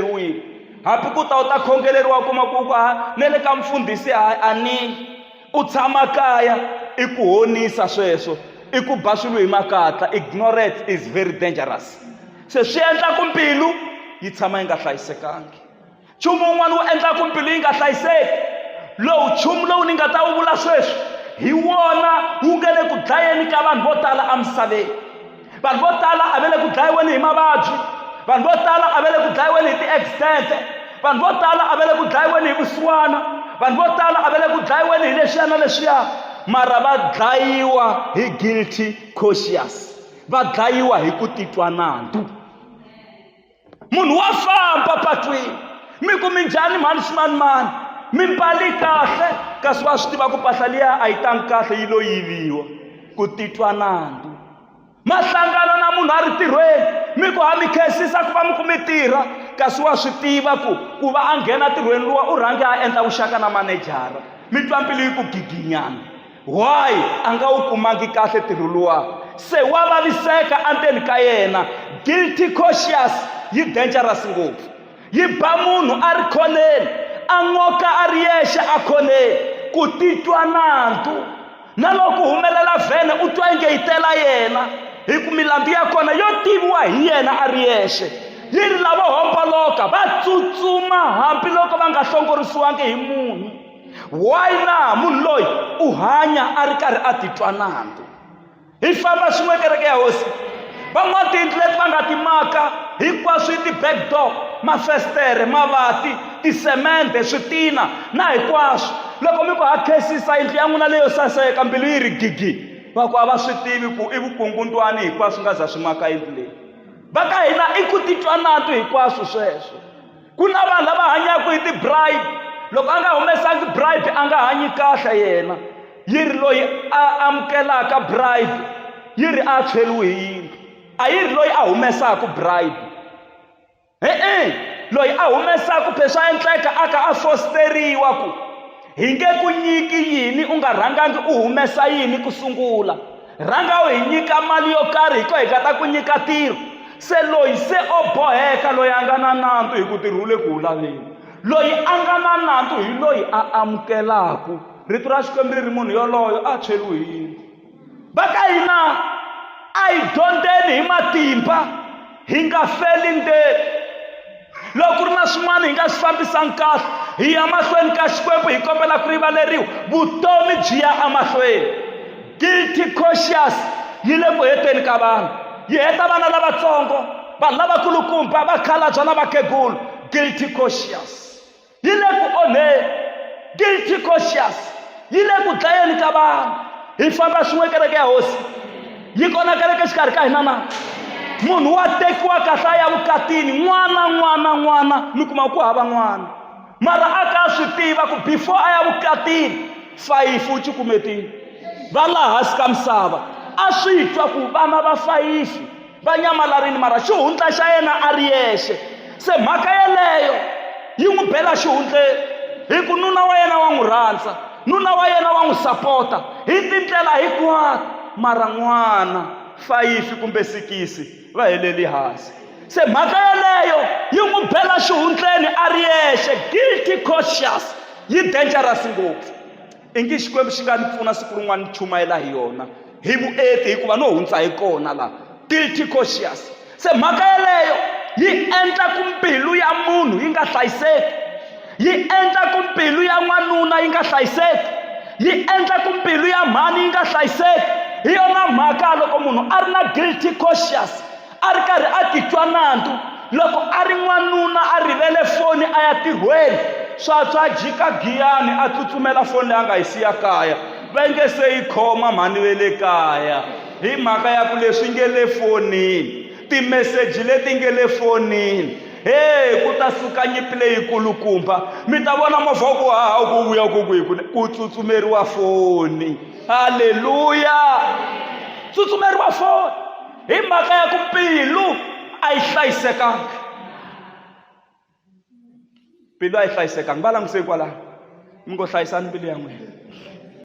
khongeleriwile hambi ku ta u ta khongeleriwa u kuma ku ku ha ne le ka mfundhisi ha a ni u tshama kaya i ku honisa sweswo i ku ba swilo hi makatla ignorance is very dangerous se swi endla ku mbilu yi tshama yi nga hlayisekangi nchumu wun'wana wu endla ku mbilu yi nga hlayiseki lowu nchumu lowu ni nga ta wu vula sweswi hi wona wu nga le ku dlayeni ka vanhu vo tala emisaveni vanhu vo tala a va le ku dlayiweni hi mavabyi vanhu vo tala a va le ku dlayiweni hi ti-accident vanhu vo tala a va le ku dlayiweni hi vusiwana vanhu vo tala a va le ku dlayiweni hi leswiya na leswiya mara va dlayiwa hi guilty conscious va dlayiwa hi ku titwa nandzu munhu wa famba patwini mi ku mi njhani mhani ximanimani mi mbali kahle kasi wa swi tiva ku mpahla liya a yi tangi kahle yi lo yiviwa ku titwa nandzu mahlangano na munhu a ri tirhweni mi ku ha mi khensisa ku va mi ku mi tirha kasi wa swi tiva ku ku va a nghena tirhweni luwa u rhange a endla vuxaka na manejara mi twa mbilu yi ku giginyana why a nga wu kumangi kahle ntirho luwa se wa vaviseka endzeni ka yena guilty cautious yi dangerous ngopfu yi ba munhu a ri khoneni a n'oka a ri yexe a khoneni ku titwa nandzu na loko humelela vhene u twa inge yi tela yena hi ku milandzu ya kona yo tiviwa hi yena a ri yexe yi ri lavo homboloka va tsutsuma hambiloko va nga hlongorisiwangi hi munhu why na munhu loyi u hanya a ri karhi a titwa nandzu hi famba swin'we kereke ya hosi van'wana tiyindlu leti va nga ti maka hinkwaswo i ti-back door mafestere mavati tisemende switina na hinkwaswo loko mi ku ha khesisa yindlu ya n'wina leyo saseka mbilu yi ri gigi va ku a va swi tivi ku i vukungundwani hinkwaswo nga za swi maka yindlu leyi va ka hina i ku titwa natu hinkwaswo sweswo ku na vanhu lava hanyaka hi ti-bribe loko a nga humesangi bribe a nga hanyi kahle yena yi ri loyi a amukelaka bribe yi ri a tshweriwe hi yindlu a yi ri loyi a humesaka bribe e-e loyi a humesaka phe swa endleka a ka a fosteriwa ku Hi nge ku nyiki yini u nga rhangangi u humesa yini ku sungula. Rhanga u hi nyika mali yo karhi hi ko hi nga ta ku nyika tiro. Se loyi se o boheka loyi a nga na nandzu hi ku tirhi wu le ku wu laveni. Loyi a nga na nandzu hi loyi a amukelaku. Rito ra Xikwembu ri ri munhu yoloyo a tshweriwe hi yindlu. va ka hina a hi dyondzeni hi matimba hi nga feli ndzeni loko ku ri na swin'wana hi nga swi fambisani kahle hi ya mahlweni ka xikwembu hi kombela ku rivaleriwa vutomi byi ya emahlweni guilty conscious yi le ku heteni ka vanhu yi heta vana lavatsongo vanhu lavakulukumba vakhalabya na vakhegulu guilty conscious yi le ku onheni guilty conscious yi le ku dlayeni ka vanhu hi famba swin'we kereke ya hosi yi kona kereke xikarhi ka hina na munhu wa tekiwa kahle a ya vukatini n'wana n'wana n'wana mi kuma ku hava n'wana mara a ka swi tiva ku before a ya vukatini fayifi u cukumetini va laha hansi ka misava a swi twa ku vana va fayifi va nyamalarile mara xihundla xa yena a ri yexe se mhaka yeleyo yi n'wi bela xihundleni hi ku nuna wa yena wa n'wi rhandza nuna wa yena wa n'wi sapota hi tindlela hinkwato mara n'wana fayifi kumbe sikisi va heleli hansi se mhaka yeleyo yi n'wi bela xihundleni a ri yexe guilty conscious yi dangerous ngopfu i ngi xikwembu xi nga ni pfuna siku rin'wana ni chumayela hi yona hi vuenti hikuva no hundza hi kona laha guilty conscious se mhaka yeleyo yi endla ku mbilu ya munhu yi nga hlayiseki yi endla ku mbilu ya n'wanuna yi nga hlayiseki yi endla ku mbilu ya mhani yi nga hlayiseki hi yona mhaka loko munhu a ri na guilty conscious a ri karhi a titwa nandzu loko a ri n'wanuna a rivele foni a ya tirhweni swatswa jika giyani a tsutsumela foni leyi a nga yi siya kaya va nge se yi khoma mhani ve le kaya hi mhaka ya ku leswi nge le fonini timeseji leti nge le fonini he ku ta suka nyipi leyikulukumba mi ta vona movha wa ku haha u ku vuya ku ku hi ku ku tsutsumeriwa foni halleluya tsutsumeriwa foni hi mhaka ya ku mbilu a yi hlayisekanga mbilu a yi hlayisekanga va languse hikwalaho mi ngo hlayisani mbilu ya n'wina